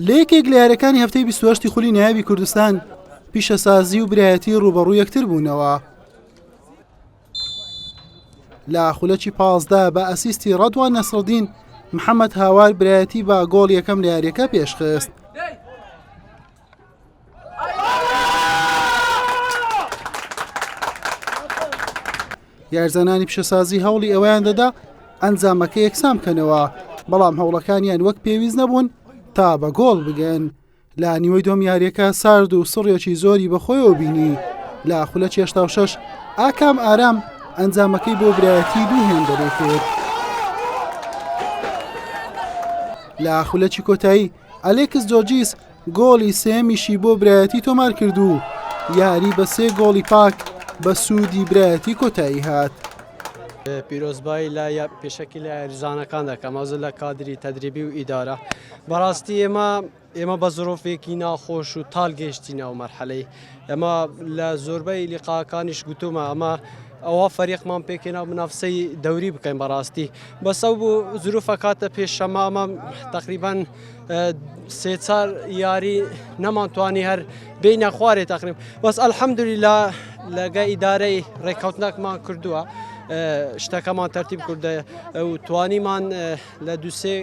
لە یەکێک لە یارەکانی هەفتەی 28 خولی نایابی کوردستان پیشەسازی و برایەتی ڕوبەڕوو یەکتر بوونەوە لە خولەکی پازدا بە ئەسیستی ڕەدوان نەسرەدین محەممەد هاوار برایەتی با گۆڵ یەکەم لە یاریەکە پێشخست یارزانانی پیشەسازی هەوڵی ئەویان دەدا ئەنجامەکە یەکسان بکەنەوە بەڵام هەوڵەکانیان وەک پێویست نەبوون تا بە گۆڵ بگەن لە نیوەی دۆم یاریەکە سارد و سڕێکی زۆری بەخۆیەوە بینی لە خولە چێشتا و شەش ئاکام ئارام ئەنجامەکەی بۆ برایەتی دوو هێندەێکێت لە خولەکی کۆتایی ئەلێکس جۆجیس گۆڵی سێیەمیشی بۆ برایەتی تۆمارکرد و یاری بە سێ گۆڵی پاک بە سوودی برایەتی کۆتایی هات. پیرۆزبایی لە پێشەکی لە یاریزانەکان دەکەم ئەوزە لە کادری تەدریبی و ئیدارە بەڕاستی ئێمە ئێمە بە زۆرۆفێکی ناخۆش و تال گەشتینەوە مەرحەلەی ئێمە لە زۆربەی لیقاکانیش گوتومە ئەمە ئەوە فەریقمان پێکێنا منافسەی دەوری بکەین بەڕاستی بەسە بوو زروفە کاتە پێشەمامە تقریبان سێ چار یاری نەمانتوانی هەر بینە خوارێ تقریم بەس ئەلحەمدوری لە لەگە ئیدارەی ڕێککەوتنەکمان کردووە. شتەکەمان تەرتیب کوردە و توانیمان لە دووسێ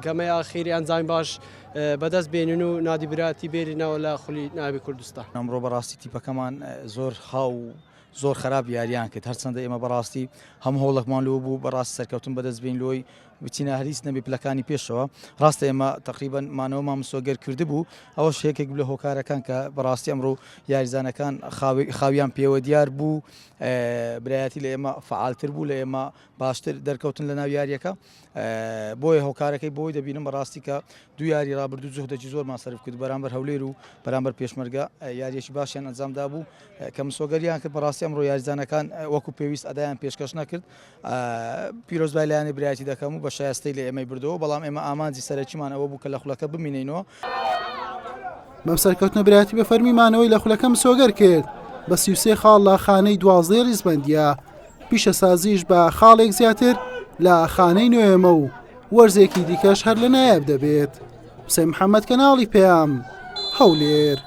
گەمەی ئاخیری ئەنجامی باش بەدەست بێنن و نادی براتی بێرینەوە لە خولی ناوی کوردستان. ئەمڕۆ بەڕاستی تیپەکەمان زۆر خاو و زۆر خراپ یاریان کرد هەرچەندە ئێمە بەڕاستی هەم هەوڵەکمان لۆ بوو بەڕاست سەرکەوتن بەدەست بین لۆی بچینە هەریس نەبی پلەکانی پێشەوە ڕاستە ئێمە تقریبان مانەوەمان مسۆگەر کرد بوو ئەوە شێکێک لە هۆکارەکان کە بەڕاستی ئەمڕۆ یاریزانەکان خاویان پێوە دیار بوو برایەتی لە ئێمە فعالتر بوو لە ئێمە باشتر دەرکەوتن لە ناو یاریەکە بۆیە هۆکارەکەی بۆی دەبینم بەڕاستی کە دو یاری رابرردو جهدێکی زۆرمان سرف کرد بەرامبەر هەولێر و بەرامبەر پێشمەرگە یاریەکی باشیان ئەنجامدا بوو کە مسۆگەریان کرد بەڕاستی ئەمڕۆ یاریزانەکان وەکو پێویست ئەدایان پێشکەش نەکرد پیرۆزبای لایانی برایەتی دەکەم و بە شایستەی لە ئێمەی بردەوە بەڵام ئێمە ئامانجی سەرەکیمان ئەوە بوو کە لە خولەکە بمینینەوە بەم سەرکەوتنە برایەتی بە فەرمی مانەوەی لە خولەکە مسۆگەر کرد بە سی و سێ خاڵ لە خانەی دوازدەی ڕیزبەندیە پیشەسازیش بە خاڵێک زیاتر لە خانەی نوێمە و وەرزێکی دیکەش هەر لە نایاب دەبێت حسێن محەممەد کەناڵی پێیام هەولێر.